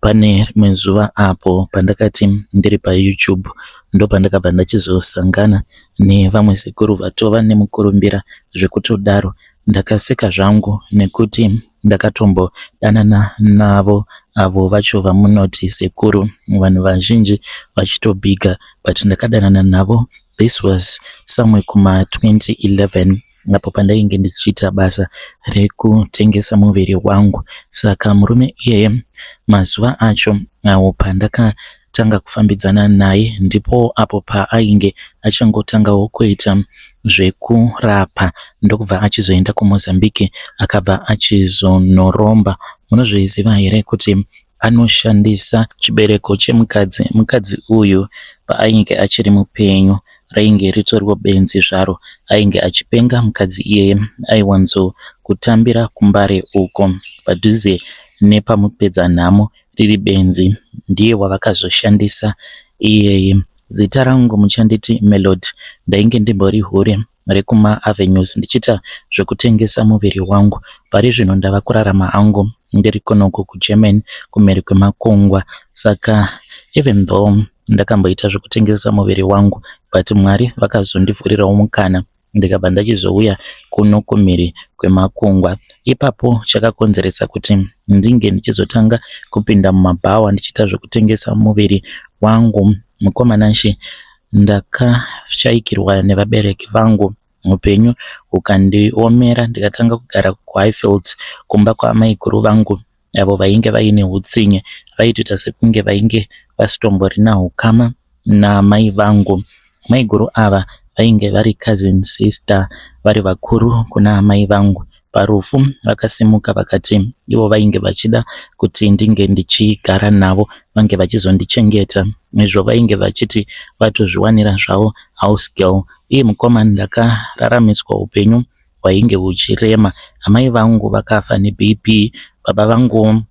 Pane rimwe zuva apo pandakati ndiri paYouTube ndopandakabva ndachizosangana nevamwe sekuru vatova nemukurumbira zvekutodaro. Ndakaseka zvangu nekuti ndakatombodanana navo avo vacho vamunoti sekuru vanhu vazhinji vachitobhiga but ndakadanana navo this was somewhere kuma 2011 apo pandainge ndichiita basa rekutengesa muviri wangu. Saka murume iyeye mazuva acho awo pandakatanga kufambidzana naye ndipo apo paainge achangotangawo kuita zvekurapa ndokubva achizoenda kuMozambique akabva achizonoromba. Munozviziva here kuti anoshandisa chibereko chemukadzi mukadzi uyu paainge achiri mupenyu rainge ritoriwo benzi zvaro ainge achipenga mukadzi iyeye aiwanzo kutambira kumbare uko padhuze nepamupedza nhamo riri benzi ndiye wavakazoshandisa iyeye zita rangu muchanditi melod ndainge ndimbori hure rekuma avenues ndichiita zvekutengesa muviri wangu. Pari zvino ndava kurarama hangu ndiri kunoku kuGermany kumhiri kwemakungwa. Saka even though ndakamboita zvekutengesa muviri wangu but Mwari vakazondivhurirawo mukana ndikabva ndachizouya kuno kumhiri kwemakungwa. Ipapo chakakonzeresa kuti ndinge ndichizotanga kupinda mumabhawa ndichiita zvekutengesa muviri wangu. Mukoma Nanshi Ndakashaikirwa nevabereki vangu mupenyu ukandiomera ndikatanga kugara kuHighfields kumba kwaamaiguru vangu avo vainge vaine hutsinye vaitoita sekunge vainge vasitomborina hukama namai vangu. Maiguru ava vainge vari cousin sister vari vakuru kuna amai vangu. parufu vakasimuka vakati ivo vainge vachida kuti ndinge ndichigara navo vange vachizondichengeta izvo vainge vachiti vatozviwanira zvavo house girl iye mukoma ndakararamiswa upenyu hwainge huchirema amai vangu vakafa nebp baba vangu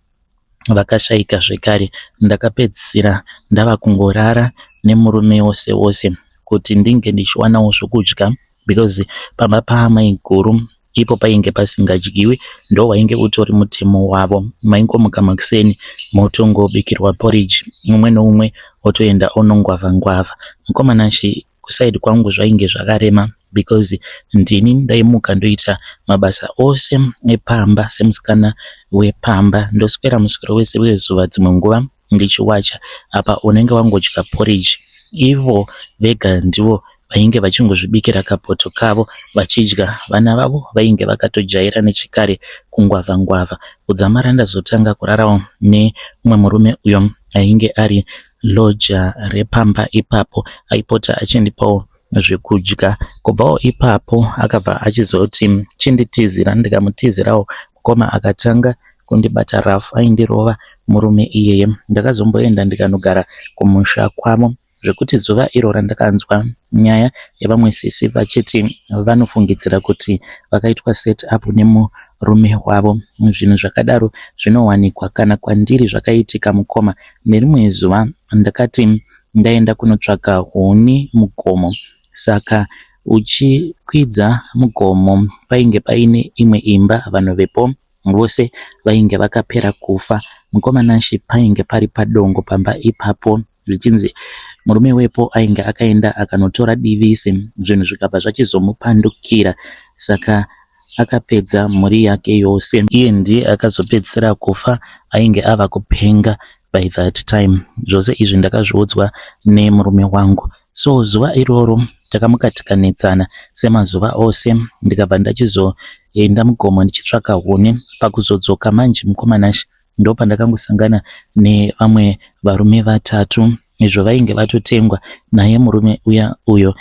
vakashaika zvekare ndakapedzisira ndava kungorara nemurume wose wose kuti ndinge ndichiwanawo zvokudya because pamba paamaiguru ipo painge pasingadyiwi ndo wainge utori mutemo wavo maingomuka makuseni motongobikirwa porridge mumwe noumwe otoenda onongwava ngwava mukomana shi kusaidi kwangu zvainge zvakarema because ndini ndaimuka ndoita mabasa ose epamba semusikana wepamba ndoswera muswero wese wezuva dzimwe nguva ndichiwacha apa unenge wangodya porridge ivo vega ndivo vainge vachingozvibikira kapoto kavo vachidya vana vavo vainge vakatojaira nechikare kungwavha ngwavha kudzamara ndazotanga kurarawo nemumwe murume uyo ainge ari loja repamba ipapo aipota achindipawo zvekudya kubvawo ipapo akabva achizoti chinditizira ndikamutizirawo mukoma akatanga kundibata rafu aindirova murume iyeye ndakazomboenda ndikanogara kumusha kwavo zvekuti zuva iro randakanzwa nyaya yevamwe sisi vachiti vanofungidzira kuti vakaitwa set up nemurume wavo zvinhu zvakadaro zvinowanikwa kana kwandiri zvakaitika mukoma Nerimwe zuva ndakati ndaenda kunotsvaka huni mugomo saka uchikwidza mugomo painge paine imwe imba vanhu vepo vose vainge vakapera kufa mukoma Nashe painge pari padongo pamba ipapo zvichinzi murume wepo ainge akaenda akanotora divisi zvinhu zvikabva zvachizomupandukira saka akapedza mhuri yake yose iye ndiye akazopedzisira kufa ainge ava kupenga by that time zvose izvi ndakazviudzwa nemurume wangu so zuva iroro takamukatikanetsana semazuva ose ndikabva ndachizoenda mugomo ndichitsvaka huni pakuzodzoka manje mukomanash ndopandakangosangana nevamwe varume vatatu izvo vainge vatotengwa naye murume uya uyo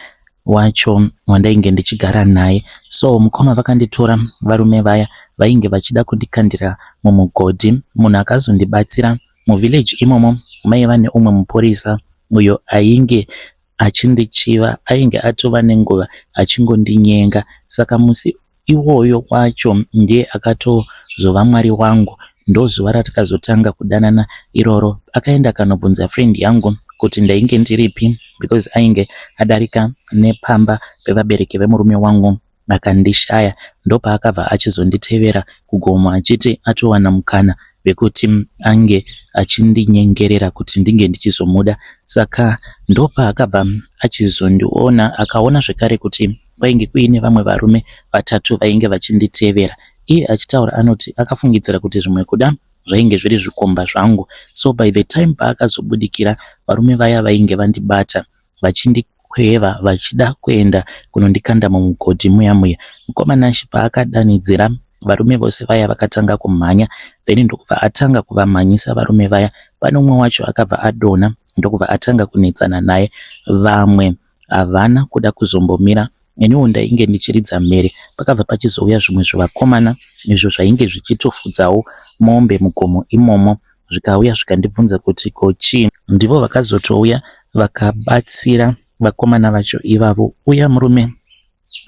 wacho wandainge ndichigara naye so mukoma vakanditora varume vaya vainge vachida kundikandira mumugodhi munhu akazondibatsira muvillage imomo maiva neumwe mupurisa uyo ainge achindichiva ainge atova nenguva achingondinyenga saka musi iwoyo wacho ndiye akatozova mwari wangu ndozuva ratakazotanga kudanana iroro akaenda akanobvunza friend yangu kuti ndainge ndiripi because ainge adarika nepamba pevabereki vemurume wangu akandishaya ndopaakabva achizonditevera kugomo achiti atowana mukana vekuti ange achindinyengerera kuti ndinge ndichizomuda saka ndopaakabva achizondiona akaona zvekare kuti kwainge kuine vamwe varume vatatu vainge vachinditevera iye achitaura anoti akafungidzira kuti zvimwe kuda zvainge zviri zvikomba zvangu so by the time paakazobudikira varume vaya vainge vandibata vachindikweva vachida kuenda kunondikanda mumugodhi muya muya. Mukoma Nash paakadanidzira varume vose vaya vakatanga kumhanya then ndokubva atanga kuvamhanyisa varume vaya. Pane umwe wacho akabva adonha ndokubva atanga kunetsana naye. Vamwe havana kuda kuzombomira Neniwo ndainge ndichiridza mhere pakabva pachizouya zvimwe zvivakomana izvo zvainge zvichitofudzawo mombe mugomo imomo zvikauya zvikandibvunza kuti ko chii. Ndivo vakazotouya vakabatsira vakomana vacho ivavo uya murume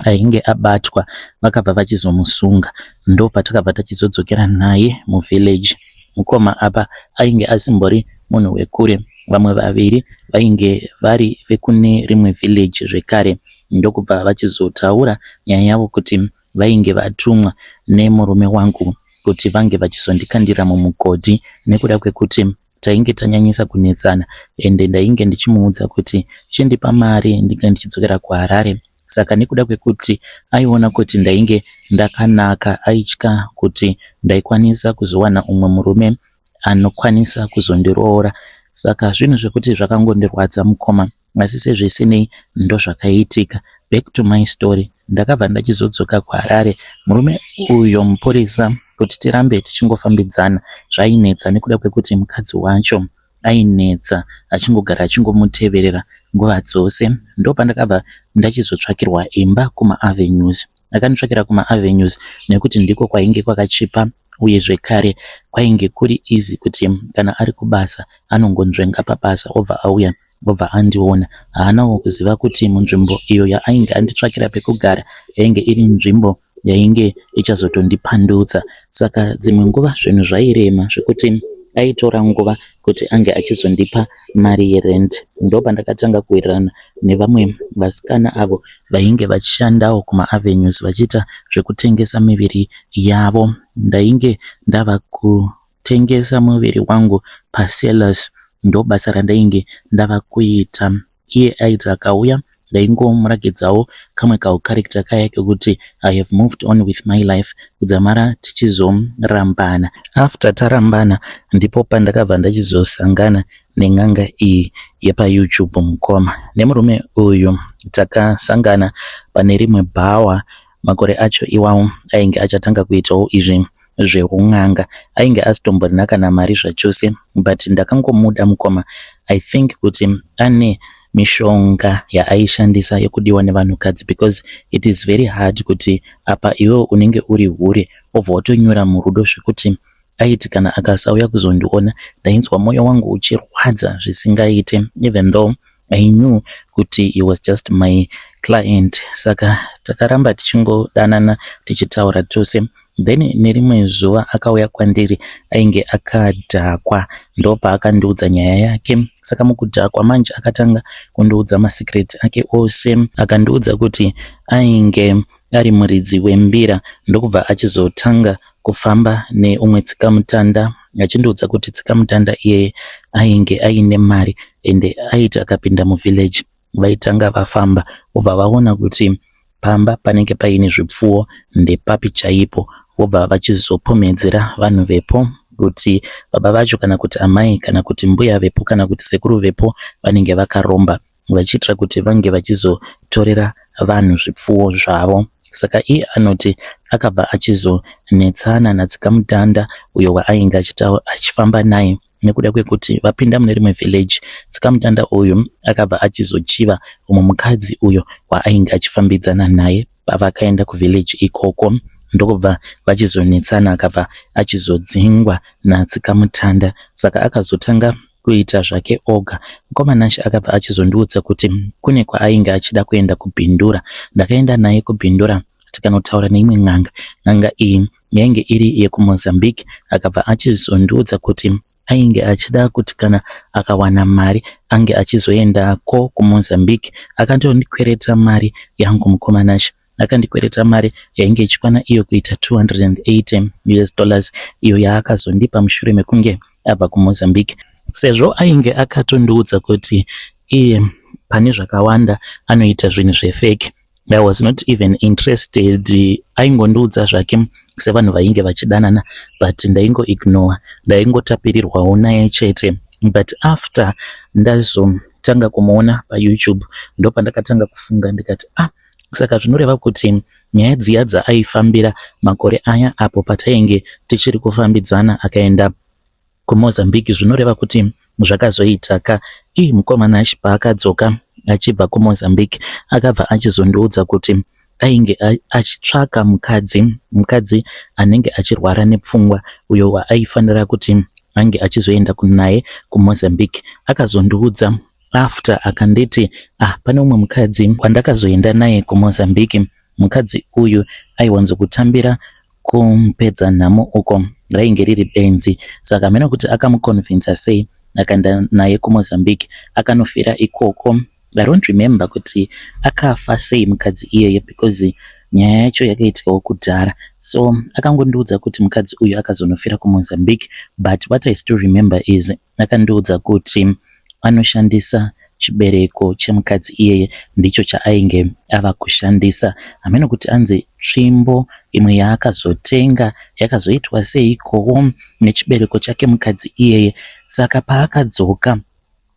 ainge abatwa vakabva vachizomusunga ndopatakabva tachizodzokera naye muvillage. Mukoma apa ainge asimbori munhu wekure. Vamwe vaviri vainge vari vekune rimwe village zvekare ndokubva vachizotaura nyaya yavo kuti vainge vatumwa nemurume wangu kuti vange vachizondikandira mumugodhi nekuda kwekuti tainge tanyanyisa kunetsana ende ndainge ndichimuudza kuti chindipa mari ndinge ndichidzokera kuharare saka nekuda kwekuti aiona kuti ndainge ndakanaka aitya kuti ndaikwanisa kuzowana umwe murume anokwanisa kuzondiroora saka zvinhu zvekuti zvakangondirwadza mukoma asi sezvisinei ndozvakaitika back to my story ndakabva ndachizodzoka kuharare murume uyo mupurisa kuti tirambe tichingofambidzana zvainetsa nekuda kwekuti mukadzi wacho ainetsa achingogara achingomuteverera nguva dzose ndopandakabva ndachizotsvakirwa imba kumaavenues Ndakandotsvakira kumaAvenues nekuti ndiko kwainge kwakachipa uye zvekare kwainge kuri easy kuti kana ari kubasa anongonzvenga pabasa obva auya obva andiona. Haanawo kuziva kuti munzvimbo iyo yaainge anditsvakira pekugara yainge iri nzvimbo yainge ichazotondipandutsa. Saka dzimwe nguva zvinhu zvairema zvekuti aitora nguva kuti ange achizondipa mari yerent ndopandakatanga kuwirirana nevamwe vasikana avo vainge vachishandawo kumaavenues vachiita zvekutengesa miviri yavo ndainge ndava kutengesa muviri wangu pasellers ndobasa randainge ndava kuita iye aiti akauya ndaingomurakidzawo kamwe kaucharacter kaya kekuti i have moved on with my life kudzamara tichizorambana after tarambana ndipo pandakabva ndachizosangana nen'anga iyi yepayoutube mukoma nemurume uyu takasangana pane rimwe bhawa Makore acho iwawo ainge achatanga kuitawo izvi zveun'anga. Ainge asitomborina kana mari zvachose but ndakangomuda mukoma. I think kuti ane mishonga yaaishandisa yekudiwa nevanhukadzi because it is very hard kuti apa iwewe unenge uri hure obva watonyura murudo zvekuti aiti kana akasauya kuzondiona ndainzwa moyo wangu uchirwadza zvisingaite even though I knew kuti he was just my client saka takaramba tichingodanana tichitaura tose then nerimwe zuva akauya kwandiri ainge akadhakwa ndopaakandiudza nyaya yake saka mukudhakwa manje akatanga kundiudza masecret ake ose akandiudza kuti ainge ari muridzi wembira ndokubva achizotanga kufamba neumwe tsikamutanda achindiudza kuti tsikamutanda iyeye ainge aine mari ende aiti akapinda muvillage vaitanga vafamba vobva vaona kuti pamba panenge paine zvipfuwo ndepapi chaipo vobva vachizopomedzera vanhu vepo kuti baba vacho kana kuti amai kana kuti mbuya vepo kana kuti sekuru vepo vanenge vakaromba vachiitira kuti vange vachizotorera vanhu zvipfuwo zvavo. Saka iye anoti akabva achizonetsana naTsikamutanda uyo waainge achifamba naye nekuda kwekuti vapinda mune rimwe village Tsikamutanda uyu akabva achizochiva umwe mukadzi uyo waainge achifambidzana naye pavakaenda kuvillage ikoko ndokubva vachizonetsana akabva achizodzingwa natsikamutanda saka akazotanga kuita zvake oga mukoma nashe akabva achizondiudza kuti kune kwaainge achida kuenda kubhindura ndakaenda naye kubhindura tikanotaura neimwe n'anga n'anga iyi yainge iri yekumozambique akabva achizondiudza kuti ainge achida kuti kana akawana mari ange achizoendako kumozambique akandondikwereta mari yangu mukomanasha akandikwereta mari yainge ichikwana iyo kuita 280 us dollars iyo yaakazondipa mushure mekunge abva kumozambique sezvo ainge akatondiudza kuti iye pane zvakawanda anoita zvinhu zvefeki I was not even interested aingondiudza zvake sevanhu vainge vachidanana but ndaingo ignore ndaingotapirirwawo naye chete but after ndazotanga kumuona payoutube ndopandakatanga kufunga ndikati ah saka zvinoreva kuti nyaya dziya dzaaifambira makore aya apo patainge tichiri kufambidzana akaenda kuMozambique zvinoreva kuti zvakazoita ka ii mukoma Nash paakadzoka achibva kuMozambique akabva achizondiudza kuti ainge achitsvaka mukadzi mukadzi anenge achirwara nepfungwa uyo waaifanira kuti ange achizoenda kunaye kuMozambique akazondiudza after akanditi ah pane umwe mukadzi wandakazoenda naye kuMozambique Mukadzi uyu aiwanzo kutambira kumupedza nhamo uko rainge riri benzi saka hameno kuti akamuconvinca sei akaenda naye kumozambique akanofira ikoko i don't remember kuti akafa sei mukadzi iyeye because nyaya yacho yakaitikawo kudhara so akangondiudza kuti mukadzi uyu akazonofira kumozambique but what i still remember is Akandiudza kuti anoshandisa chibereko chemukadzi iyeye ndicho chaainge ava kushandisa hameno kuti anzi tsvimbo imwe yaakazotenga yakazoitwa seikowo nechibereko chake mukadzi iyeye saka paakadzoka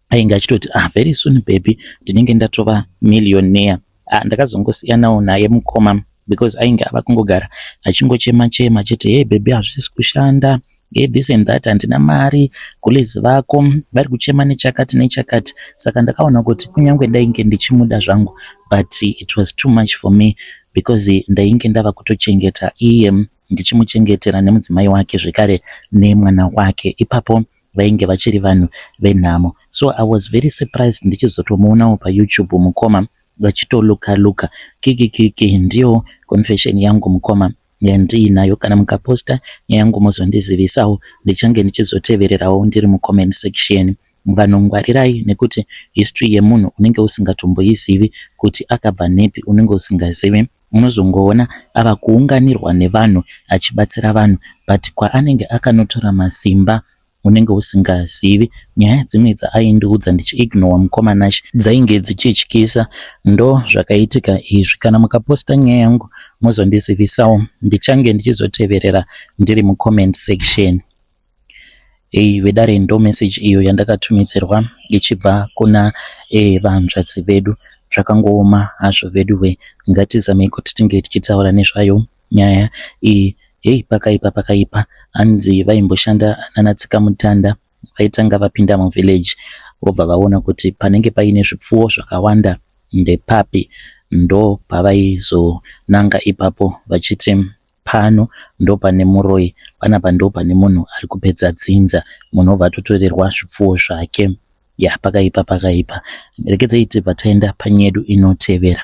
ainge achitoti ah very soon baby ndinenge ndatova millionaire ah, ndakazongosiyanawo naye mukoma because ainge ava kungogara achingochema chema chete hey baby hazvisi kushanda Hey, this and that handina mari gules vako vari kuchema nechakati nechakati saka ndakaona kuti kunyange ndainge ndichimuda zvangu but it was too much for me because ndainge ndava kutochengeta iye ndichimuchengetera nemudzimai wake zvekare nemwana wake ipapo vainge vachiri vanhu venhamo so i was very surprised ndichizotomuonawo payoutube mukoma vachitoluka luka kikikiki ndiyo confession yangu mukoma yandiinayo kana mukaposter neyangu mozondizivisawo ndichange ndichizotevererawo ndiri mucomment section vanhu ngwarirai nekuti history yemunhu unenge usingatomboizivi kuti akabva nepi unenge usingazivi unozongoona ava kuunganirwa nevanhu achibatsira vanhu but kwaanenge akanotora masimba unenge usingazivi nyaya dzimwe dzaaindiudza ndichiignowa mukoma Nash dzainge dzichityisa ndo zvakaitika izvi kana mukaposta nyaya yangu mozondizivisawo ndichange ndichizoteverera ndiri mucomment section hey, vedare ndo message iyo yandakatumidzirwa ichibva kuna hey, eh, vahanzvadzi vedu zvakangooma hazvo veduwe ngatizamei kuti tinge tichitaura nezvayo Nyaya iyi heyi pakaipa pakaipa hanzi vaimboshanda nana tsikamutanda vaitanga vapinda muvillage vobva vaona kuti panenge paine zvipfuwo zvakawanda ndepapi ndo pavaizonanga ipapo vachiti pano ndo pane muroyi panapa ndo pane munhu ari kupedza dzinza munhu obva atotorerwa zvipfuwo zvake ya pakaipa pakaipa rekedzei tibva taenda panyedu inotevera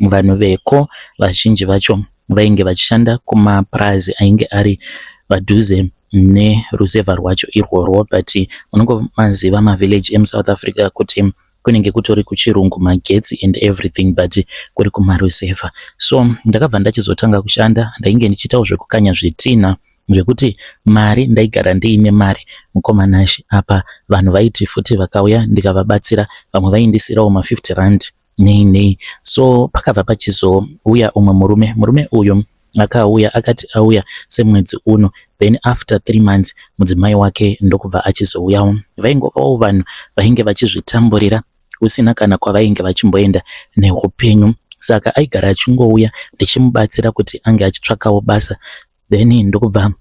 Vanhu veko vazhinji vacho vainge vachishanda kumapurazi ainge ari padhuze neruzevha rwacho irworwo but unongomaziva mavillage emusouth africa kuti kunenge kutori kuchirungu magetsi and everything but kuri kumaruzevha so ndakabva ndachizotanga kushanda ndainge ndichiitawo zvekukanya zvitinha zvekuti mari ndaigara ndiine mari mukoma nashe apa vanhu vaiti futi vakauya ndikavabatsira vamwe vaindisirawo ma50 rand nei nei so pakabva pachizouya umwe murume murume uyu akauya akati auya semwedzi uno then after three months mudzimai wake ndokubva achizouyawo vaingovawo vanhu vainge vachizvitamburira kusina kana kwavainge vachimboenda neupenyu saka aigara achingouya ndichimubatsira kuti ange achitsvakawo basa then ndokubva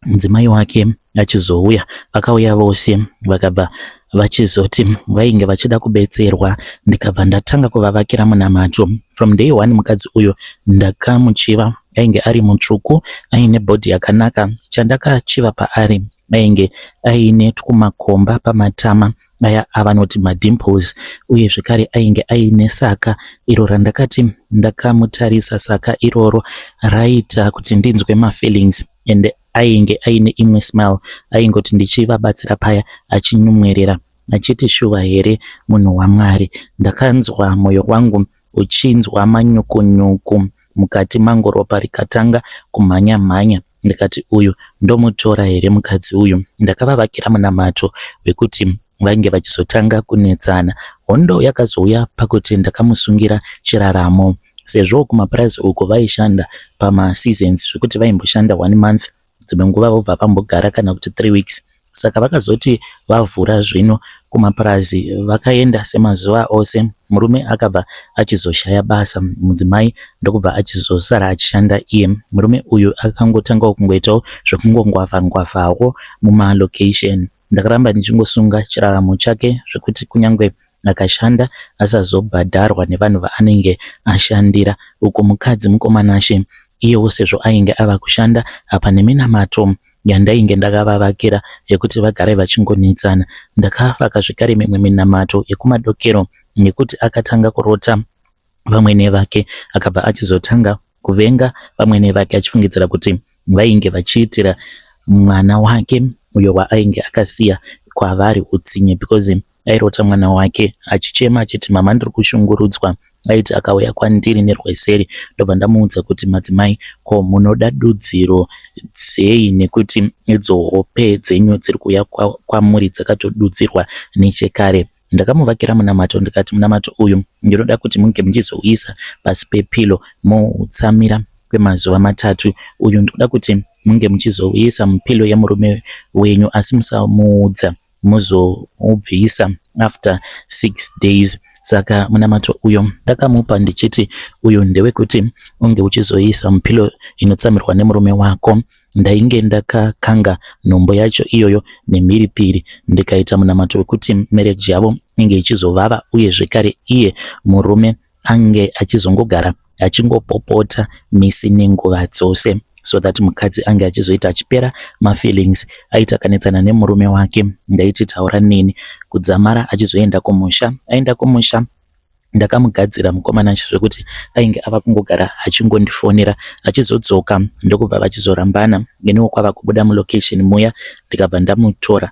mudzimai wake achizouya vakauya vose vakabva vachizoti vainge vachida kubetserwa ndikabva ndatanga kuvavakira munamato from day one mukadzi uyu ndakamuchiva ainge ari mutsvuku aine bhodhi yakanaka chandakachiva paari ainge aine twumakomba pamatama vaya avanoti madimples uye zvekare ainge aine saka iro randakati ndakamutarisa saka iroro raita kuti ndinzwe mafeelings and ainge aine imwe smile aingoti ndichivabatsira paya achinyumwerera achiti shuva here munhu wamwari ndakanzwa moyo wangu uchinzwa manyokonyoko mukati mangu ropa rikatanga kumhanya mhanya ndikati uyu ndomutora here mukadzi uyu ndakavavakira munamato wekuti vainge vachizotanga kunetsana hondo yakazouya pakuti ndakamusungira chiraramo sezvo kumapurazi uko vaishanda pamaseasons zvekuti vaimboshanda one month dzimwe nguva vobva vambogara kana kuti three weeks saka vakazoti vavhura zvino kumapurazi vakaenda semazuva ose murume akabva achizoshaya basa mudzimai ndokubva achizosara achishanda iye murume uyu akangotangawo kungoitawo zvekungongwavha ngwavhawo mumalocation ndakaramba ndichingosunga chiraramo chake zvekuti kunyange akashanda asazobhadharwa nevanhu vaanenge ashandira uku mukadzi mukomanashe iyewo sezvo ainge ava kushanda apa neminamato yandainge ndakavavakira yekuti vagare vachingonetsana ndakavaka zvekare mimwe minamato yekumadokero nekuti akatanga kurota vamwene vake akabva achizotanga kuvenga vamwene vake achifungidzira kuti vainge vachiitira mwana wake uyo waainge akasiya kwavari utsinye because airota mwana wake achichema achiti mama ndiri kushungurudzwa aiti akauya kwandiri nerweseri ndobva ndamuudza kuti madzimai ko munoda dudziro dzei nekuti idzo hope dzenyu dziri kuuya kwamuri dzakatodudzirwa nechekare ndakamuvakira munamato ndikati munamato uyu ndinoda kuti munge muchizouisa pasi pepilo moutsamira kwemazuva matatu uyu ndikuda kuti munge muchizouisa mupilo yemurume wenyu asi musamuudza mozoubvisa after six days saka munamato uyo ndakamupa ndichiti uyu ndewekuti unge uchizoisa mupilo inotsamirwa nemurume wako ndainge ndakakanga nhombo yacho iyoyo nemhiripiri ndikaita munamato wekuti mereji yavo inge ichizovava uye zvekare iye murume ange achizongogara achingopopota misi nenguva dzose so that mukadzi ange achizoita achipera mafeelings aita kanetsana nemurume wake ndaiti taura neni kudzamara achizoenda kumusha aenda kumusha ndakamugadzira mukomana zvekuti ainge ava kungogara achingondifonera achizodzoka ndokubva vachizorambana neniwo kwava kubuda mulocation muya ndikabva ndamutora